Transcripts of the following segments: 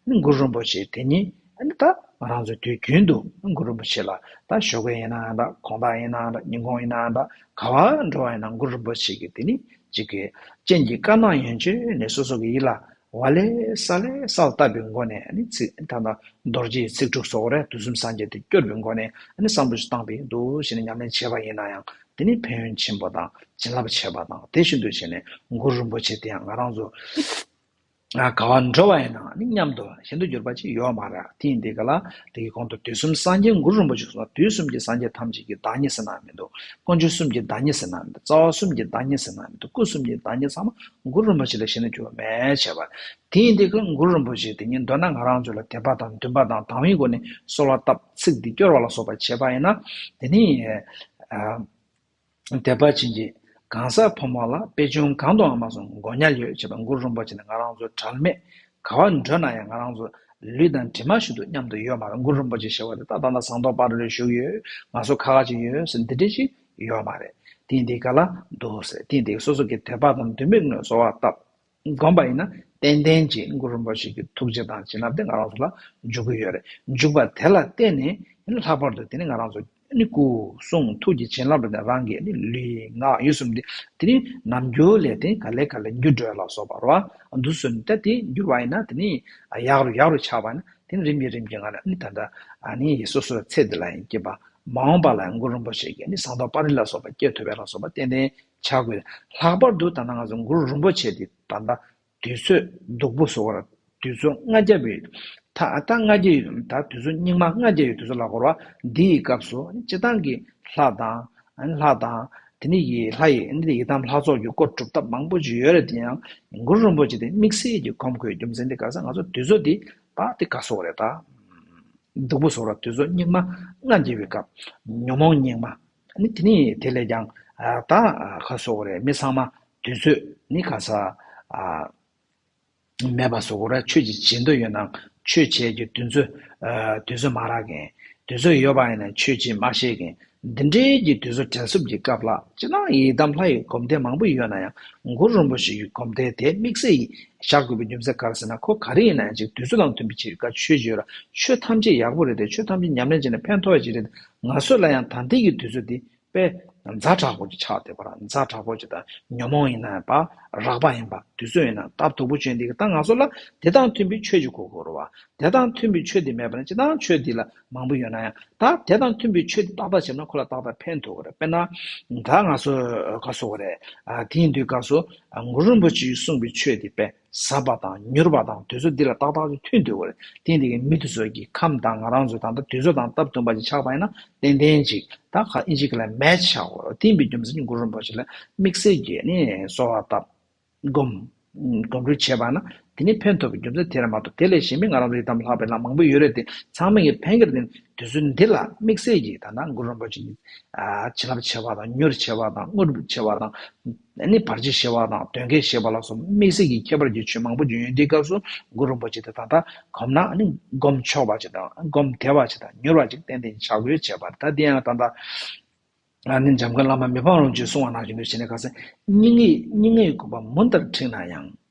ནས་གུ་རུ་རིན་པོ་ཆེ་དེ་ཉིད་ཨ་ཏི་ང་རང་ཚོ་དུས་རྒྱུན་དུ་གུ་རུ་རིན་པོ་ཆེ་ལ་ད་ཞོགས་ཀའི་ཡིན་ནའང་འདྲ་གོང་ད་ཡིན་ནའང་འདྲ་ཉིན་གུང་ཡིན་ནའང་འདྲ་ག་བ་འགྲོ་བ་ཡིན་ནའང་གུ་རུ་རིན་པོ་ཆེ་གི་དེ་ནི་གཅིག་གི་སྤྱན་གྱི་དཀར་ནག་ཡོན་བཅོས་ནས་སོ་སོ་གི་ཡིད་ལ་ཝལ་ལེ་ས་ལེ་སའོ་བཏབ་པའི་སྒོ་ནས་ནི་ཚིག་ད་ལྟ་རྡོ་རྗེའི་ཚིག་དྲུག་སོགས་རེ་དུ་གསུམ་སངས་རྒྱས་དེ་སྐྱོར་བའི་སྒོ་ནས་ནི་བསམ་བློ་ཞིག་བཏང་པས་འདུ་ཤེས་ནི་ཉམས་ལེན་བྱེད་པ་ཡིན་ན་ཡང་དེ་ནི་ཕན་ཡོན་ཆེན་པོ་དང་བྱིན་རླབས་ཆེ་བ་དང་དེ་བཞིན་དུ་བྱས་ནས་གུ་རུ་རིན་པོ་ཆེ་དེ་ཡང་ང་རང་ཚོ། དགའ་བ་འགྲོ་བ་ཡིན་ནའང་ནི་སྙམ་དུ་ཤིན་ཏུ་གྱུར་པ་ཅིག་ཡོད་མ་རེག་དེ་ཡིན་ཏེ་ག་ལ་དེ་ཡི་གོང་དུ་དུས་གསུམ་སངས་རྒྱས་མགུར་རིན་པོ་ཆེ་གསུངས་པ་དུས་གསུམ་གྱི་སངས་རྒྱས་ཐམས་ཅད་ཀྱི་བདག་ཉིད་ཟེར་ནའང་མི་འདུག་ཀུན་སྤྱོད་གསུམ་གྱི་བདག་ཉིད་ཟེར་ནའང་མི་འདུག་རྩ་བ་གསུམ་གྱི་བདག་ཉིད་ཟེར་ནའང་མི་འདུག་སྐུ་གསུམ་གྱི་བདག་ཉིད་ཚང་མ་མགུར་རིན་པོ་ཆེ་ལས་ཤིན་ཏུ་གྱུར་པ་མེད་བྱས་པ། དེ་ཡིན་ཏེ་ཀུན་མགུར་རིན་པོ་ཆེ་དེ་ཉིད་འདོད་ན་ང་རང་ཚོ་ལ་དད་པ་དང་འདུན་པ་དང་དང་བའི་སྒོ་ནས་གསོལ་བ་བཏབ་ཚིག་འདི་སྐྱོར་བ་ལ་སོགས་པ་བྱས་པ་ཡིན་ན་དེ་ནི། དད་པ་བྱིན་གྱིས་གང་ཟག་ཕོ་མོ་ལ་དཔེ་ཆུང་གང་དུའང་མ་སོང་མགོ་ཉལ་ཡོད་བྱས་པ་མགུར་རིན་པོ་ཆེ་ནི་ང་རང་ཚོའི་གྲལ་མེད་ག་བ་འགྲོས་ན་ཡང་ང་རང་ཚོ་ལུས་དང་གྲིབ་མ་ཞིག་ཏུ་མཉམ་དུ་ཡོད་མ་རེད་མགུར་རིན་པོ་ཆེ་ཞེས་བ་དེ་ད་ད་ནས་ཟངས་མདོག་སྤ་རེ་རེར་བཞུགས་ཡོད་ང་ཚོ་ཁ་ཁ་ཅིག་ཡོད་ཟེར་འདི་འདྲས་ཤིག་ཡོད་མ་རེད་དེང་འདི་ག་ལ་འདུག་ཟེར་དེང་འདི་ག་སོ་སོ་གི་དོད་པ་དང་དོད་མིག་ངོས་བཟོ་བ་སྟབས། བསྒོམས་པ་ཡིན་ན་ཏན་ཏན་གྱིས་གུ་རུ་རིན་པོ་ཆེ་ཀྱི་ཐུགས་རྗེ་དང་བྱིན་རླབས་དེ་ང་རང་ཚོ་ལ་འཇུག་གི་ཡོད་རེད་འཇུག་པ་དེ་ལ་བརྟེན་ནས་ལྷག་པར་དུ་དེ་ནི་ང་རང་ཚོ་སྐུ་གསུང་ཐུགས་ཀྱི་བྱིན་རླབས་དང་རང་གི་ལུས་ངག་ཡིད་གསུམ་དེ་དེ་ནི་ནམ་རྒྱུན་ལས་དེ་ག་ལེ་ག་ལེ་འགྱུར་འགྲོས་ལ་སོགས་པ་རོ་འདུག་བཟོད་ནས་དེ་འགྱུར་བ་ཡིན་ན་དེ་ནི་ཡག་རུ་ཡག་རུ་ཆགས་པ་ནི་དེ་ནི་རིམ་གྱིས་རིམ་གྱིས་ང་རང་ནི་ད་ལྟ་ནི་སོ་སོའི་ཚེ་འདི་ལ་ཡིན་གྱི་བ་མ་འོངས་པ་ལ་ཡང་གུ་རུ་རིན་པོ་ཆེ་ཀྱི་ནི་གསང་རྟོགས་པར་རིགས་ལ་སོགས་པ་སྐྱེ་ཐུབ་པའི་ལ་སོགས་པ་ཏན་ཏན་བྱ་དགོས། ལྷག་པར་དུ་ད་ལྟ་ང་ཚོ་འགུ་རུ་རིན་པོ་ཆེ་དེ་ད་ལྟ་དུས་ཚོད་སྡུག་པོ་བཟོ་བར་དུས་ཚོད་ལྔ་བརྒྱ་པའི་ད་ལྟ་ལྔ་བརྒྱ་ཡོད་ད་དུས་ཚོད་སྙིགས་མ་ལྔ་བརྒྱ་ཡོད་དུས་ཚོད་ལ་བསྐོར་བ་འདི་ཡི་སྐབས་སུ་སྤྱི་བཏང་གི་ལྷ་དང། ལྷ་དང། དེ་ནི་ཡི་ལྷ་ཡི་འདི་ཡི་དམ་ལྷ་ཚོགས་ཀྱི་སྐོར་སྒྲུབ་ཐབས་མང་པོ་ཅི་ཡོད་རེད་དེ་ཡང་འགུ་རུ་རིན་པོ་ཆེ་དེ་དམིགས་བསལ་གྱི་གོམས་གོས་རྒྱུ་མཚན་དེ་ག་ས་ང་ཚོ་དུས་ཚོད་འདི་ད་དེ་ག་ཟོ་རེད་ད། སྡུག་པོ་བཟོ་བར་དུས་ཚོད་སྙིགས་མ་ལྔ་བརྒྱ་ཡོད་སྐབས། ཉོན་མོངས་སྙིགས་མ། ནི་དེ་ནི་དེ་ལས་ཀྱང། བདག། ཁ་བཟོ་བོ་རེ་མི་ཚང་མ། དུས་ཚོད། ནི་ག་ས། མེད་པ་བཟོ་བོ་ར་ཆོས་ཀྱི་བྱེད་འདོད་ཡོད་ན། ཆོས་བྱེད་ཀྱི་དུས་ཚོད། དུས་ཚོད་མ་རག་གིན། དུས་ཚོད་ཡོད་པ་ཡིན་ན་ཆོས་ཀྱིས་མ་ཤེས་གིན། འདི་འདྲའི་གྱི་དུས་ཚོད་དྲན་སྲུབ་ཀྱི་སྐབས་ལ་ཅི་སྣང་ཡི་དམ་ལྷ་ཡི་སྒོམ་སྡེ་མང་པོ་ཡོད་ན་ཡང་མགོ་རུམ་པོ་ཞིག་གི་སྒོམ་སྡེ་དེ་དམིགས་བསལ་ཡིས་བཞག་དགོས་པའི་རྒྱུ་མཚན་ག་རེ་ཟེར་ན་ཁོ་ག་རེ་ཡིན་ན་ཡང་ཅིག་དུས་ཚོད་དང་མཐུན་པའི་ཕྱིར་ག་ཆོས་བྱེད་ར་ཆོས་ཐམས་ཅད་ཡག་པོ་རེད་དེ་ཆོས་ཐམས་ཅད་ཉམས་ལེན་བྱས་ན་ཕན་ཐོགས་ཅིག་རེད་ང་ཚོ་ལ་ཡང་ད་ལྟའི་ཡུལ་དུས་ཚོད་འདི་པས་མཛའ་གྲགས་པོ་ཅིག་ཆགས་བསྡད་པ་ར་མཛའ་གྲགས་པོ་ཅིག་དང་ཉོན་མོངས་ཡིན་ན་པ་རགས་པ་ཡིན་པ་དུས་ཚོད་ཡིན་ན་ལྟ་སྡུག་པོ་བྱོས་འདི་གི་ད་ང་ཚོ་ལ་དེ་དང་མཐུན་པའི་ཆོས་ཅིག་གོ་དགོས་རོ་བ་དེ་དང་མཐུན་པའི་ཆོས་འདི་མེད་པ་ན་ཅི་དང་ཆོས་འདི་ལ་མང་པོ་ཡོད་ན་ཡང་ད་དེ་དང་མཐུན་པའི་ཆོས་འདི་ཏག་ཏག་བྱེད་ན་ཁོ་ལ་ཏག་ཏག་ཕན་ཐོག་གི་རེད་དཔེར་ན་ད་ང་ཚོ་དགའ་བསུ་བ་རེད་དེའི་འདུས་དགའ་བསུ་ངུ་རིན་པོ་ཆེ་ཡིས་གསུངས་པའི་ཆོས་འདི་པས་ཟབ་པ་དང་མྱུར་བ་དང་དུས་ཚོད་འདི་ལ་ཏག་ཏག་ཅིག་ཐུན་དུ་བརྟེན་དེ་ཀའི་མི་དུ་ཚོད་ཀྱིས་ཁམས་དང་ང་རང་ཚོའི་ད་ལྟ་དུས་ཚོད་དང་སྟབས་བསྟུན་པ་ཅིག་ཆགས་པ་ཡིན་ན་ཏན་ཏན་ཅིག་ད་ག་ཨིན་ཅིག་ལ་མལ་ཆ་བོ་བསྟིམས་པའི་རྒྱུ་མཚན་གྱི་འགུལ་རིམ་པོ་ཅིག་ལ་དམིགས་བསལ་གྱིས་ནི་གསོ་བ་བཏབ། སྒོམ། སྒོམ་རུས་བྱས་པ་ན་དེ་ནི་ཕན་ཐོགས་པའི་རྒྱུ་མཚན་དེ་རེད་མ་གཏོགས་དེ་ལས་གཞན་པའི་ང་རང་ཚོ་ཡི་དམ་ལྷག་པའི་ལམ་མང་པོ་ཡོད་རེད་དེ་ཚང་མས་ངས་ཕན་ཁེར་བརྟེན་དུས་ཚོད་འདི་ལ་དམིགས་བསལ་གྱིས་ད་ལྟ་འགུལ་རིམ་པོ་ཅིག་ནི་བྱིན་རླབས་ཆེ་བ་དང་མྱུར་ཆེ་བ་དང་དངོས་གྲུབ་ཆེ་བ་དང། ནས་ནི་བར་ཆད་ཞི་བ་དང་དོན་གྱི་ཞེས་པ་ལ་སོགས་མིག་ཟད་ཀྱི་ཁྱད་པར་གྱི་ཆོས་མང་པོ་བརྗོད་ཡོན་ཏེ་སྐབས་སུ་གུ་རུ་པོ་ཆེ་དེ་དག་དག་གོམས་ན་ནི་བསྒོམ་ཆོག་པ་ཅིག་དང་བསྒོམ་བདེ་བ་ཅིག་དང་མྱུར་བ་ཅིག་བསྟན་ཏེ་ཕྱག་འབུལ་བྱས་པར་ད་དེ་ཡང་ད་ལྟ་ནི་འཇམ་མགོན་བླ་མ་མི་ཕམ་རོང་ཅུས་གསུང་བ་ནང་བཞིན་དུ་བྱས་ནས་ག་ས་སྙིང་ངེ་སྙིང་ངེ་ཡི་དགོངས་པ་མུ་མཐར་འཁྲིགས་ན་ཡང།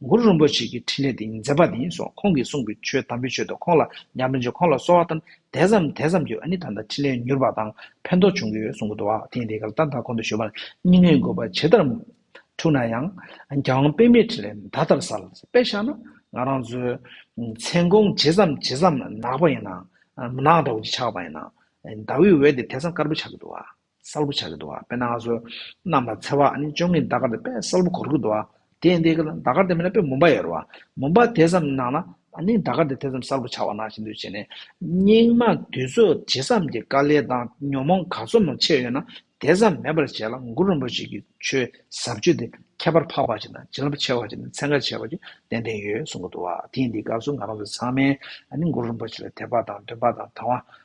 གུ་རུ་རིན་པོ་ཆེ་ཀྱི་འཕྲིན་ལས་འདི་ཉིད་མཛད་པ་དེ་ཡིན་སོགས་ཁོང་གིས་གསུངས་པའི་ཆོས་དམ་པའི་ཆོས་དང་ཁོང་ལ་ཉམས་ལེན་ཆོས་ཁོང་ལ་གསོལ་བ་ཐམས་དད་ཙམ་དད་ཙམ་གྱིས་ཨ་ནི་ད་ལྟ་འཕྲིན་ལས་མྱུར་བ་དང་ཕན་ཐོགས་བྱུང་གི་ཡོད་གསུངས་གོ་ཐོག་ཐེངས་དེའི་སྐབས་ད་ལྟ་ཁོང་དུ་ཞུ་བར་སྙིང་ནད་འགོས་པ་ཇི་ལྟར་འཁྲུགས་ན་ཡང་རྒྱལ་དབང་པད་མའི་འཕྲིན་ལས་ད་ལྟར་གསལ་པས་ཤར་ན་ང་རང་ཚོའི་མཚན་གུང་ཇི་ཙམ་ཇི་ཙམ་ནག་པ་ཡིན་ནའང་མནའ་འདྲ་བོ་ཅིག་ཆགས་པ་ཡིན་ནའང་ཟླ་འོད་འོད་དེ་དེ་ཙམ་དཀར་པོ་ཆགས་ཀྱི་འདུག་ཨ། གསལ་པོ་བྱ་གི་འདུག་དཔེར་ན་ང་ཚོ་གནམ་ལ་འཚེར་བ་ནི་བཅོ་ལྔའི་ཟླ་སྐར་དེ་དཔེ་གསལ་པོ་གོར་གི་འདུག་དེ་ཡིན་དེ་ཟླ་སྐར་དེ་མིན་ན་དཔེ་མུན་པ་ཡོད་རེད་བ། མུན་པ་དེ་ཙམ་ནང་ན་ནི་ཟླ་སྐར་དེ་དེ་ཙམ་གསལ་པོ་ཆགས་བ་ན་ཞེ་འདོད་བྱེད་ནས། སྙིགས་མ་དུས་ཚོད་ཇི་ཙམ་གྱི་དཀའ་ལས་དང་ཉོན་མོངས་ག་ཚོད་མང་ཆེ་ཡོད་ན་དེ་ཙམ་མེད་པར་བྱས་ལ་མགུར་རིན་པོ་ཆེ་གི་ཆོས་ཟབ་ཆོས་དེ་ཁྱད་པར་འཕགས་པ་ཅིག་དང་བྱིན་རླབས་ཆེ་བ་ཅིག་ནི་ཚན་ཁ་ཆེ་བ་ཅིག་ཏན་ཏན་ཡོད་གསུང་གི་འདུག་དེ་ཡིན་དེ་སྐབས་སུ་ང་རང་ཚོ་ཚང་མས་ནི་མགུར་རིན་པོ་ཆེ་ལ་དད་པ་དང་འདུན་པ་དང་དང་བ་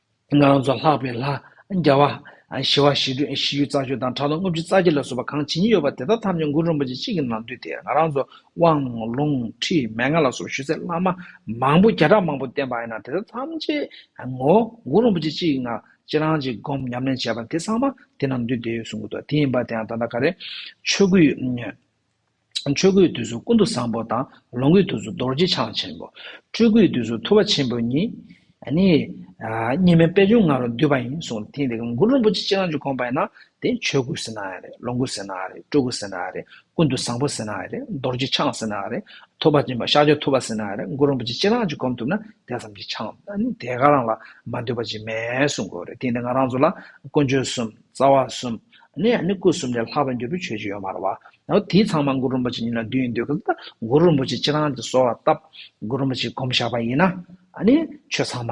སྔགས་རྫོགས་ལྷག་པའི་ལྷ། རྒྱལ་བ། ཞི་བ་ཞི་ཁྲོའི་ཞི་ཡུལ་རྩ་ཆོས་དང་དྲག་རླུང་ལྔ་བཅུ་རྩ་བརྒྱད་ལ་སོགས་པ་གང་ཇི་སྙེད་ཡོད་པ་དེ་དག་ཐམས་ཅད་མགུར་རིན་པོ་ཆེ་གཅིག་གི་ནང་འདུས་ཏེ་ང་རང་ཚོ་དབང། ལུང། ཁྲིད། མན་ངག་ལ་སོགས་ཞུ་སའི་བླ་མ། མང་པོ་བརྒྱ་ཕྲག་མང་པོ་བསྟེན་པ་ཡིན་ན་དེ་དག་ཐམས་ཅད། ངོ། མགུར་རིན་པོ་ཆེ་གཅིག་གི་ངང་ཅི་རང་ཅིག་བསྒོམ་ཉམས་ལེན་བྱས་པ་དེ་ཚང་མ་དེ་ནང་འདུས་ཏེ་ཡོད་གསུང་གི་འདུག་དེ་ཡིན་པ་དེའང་ད་ལྟ་ག་རེ། ཆོས་སྐུའི། ཆོས་སྐུའི་དུས་སུ་ཀུན་ཏུ་བཟང་པོ་དང། ལོངས་སྐུའི་དུས་སུ་རྡོ་རྗེ་འཆང་ཆེན་པོ། སྤྲུལ་སྐུའི་དུས་སུ་ཐུ་བ་ཆེན་པོ་ཉིད། གཉིས་མེད་པད་འབྱུང་ང་རོ་འདུས་པ་ཡིན་གསུངས་ཏེ། དེ་མགུར་རིན་པོ་ཆེ་སྤྱན་རང་གིས་དགོངས་པ་ཡིན་ན། དེ་ཆོས་སྐུ་ཟེར་ན་ཡང་རེད་ལོངས་སྐུ་ཟེར་ན་ཡང་རེད་སྤྲུལ་སྐུ་ཟེར་ན་ཡང་རེད་ཀུན་ཏུ་བཟང་པོ་ཟེར་ན་ཡང་རེད་རྡོ་རྗེ་འཆང་ཟེར་ན་ཡང་རེད་ཐུ་བ་ཆེན་པོ་ཤཱཀྱ་ཐུ་བ་ཟེར་ན་ཡང་རེད་མགུར་རིན་པོ་ཆེ་སྤྱན་རང་གིས་བསྒོམ་ཐུབ་ན་དེ་ཙམ་གྱིས་འཆང། དེ་ག་རང་ལ་མ་འདུས་པ་ཅིག་མེད་གསུངས་དགོས་རེད་དེ་ནི་ང་རང་ཚོ་ལ་ཀུན་སྤྱོད་གསུམ། རྩ་བ་གསུམ། གནས་ཡང་ནི་སྐུ་གསུམ་ལས་ལྷག་པའི་འབྲས་བུའི་ཆོས་ཅི་ཡོད་སྨྲ་བ། དེའི་ཚང་མ་མགུར་རིན་པོ་ཆེ་ཉིད་ལ་བསྡུས་ཡིན་འདོད་ཀྱི། མགུར་རིན་པོ་ཆེས་ཁྱེད་རང་གི་གསོལ་བ་བཏབ། མགུར་རིན་པོ་ཆེས་བསྒོམ་བཞག་པ་ཡིན་ན། ཆོས་ཚང་མ་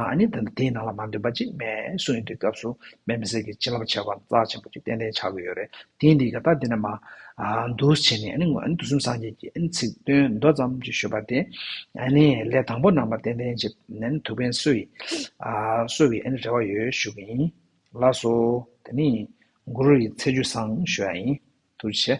དེའི་ནང་ལ་མ་འདུས་པ་གཅིག་སྨྲས་གསུངས་ཡོད་འདུག་སྐབས་སུ་སྨྲས་མི་སྲིད་ཀྱི་བྱིན་རླབས་ཆེ་བ་རྩ་ཆེན་པོ་གཅིག་ཏན་ཏན་ཆགས་ཀྱི་ཡོད་རེད་དེ་འདི་ག་ད་འདི་ནས་མ། འདུ་བྱེད་ནས་འདུ་གསུམ་སངས་རྒྱས་ཀྱི་ཚིག་དོན་མདོ་ཙམ་གྱི་ཞུ་བ་སྟེ། ལས་དང་པོ་རྣམ་པ་ཏན་ཏན་གཅིག་ཐུབ་མཁན་སུ་ཡིན། སུ་བའི་རེ་བ་ཡོད་ཞུ་གི་ཡིན། ལགས་སོ། དེ་ནི། གུ་རུ་ཡི་ཚེ་ཆུ་བཟང་ཞོ་ཡ་ཡིན། དུ་བྱས།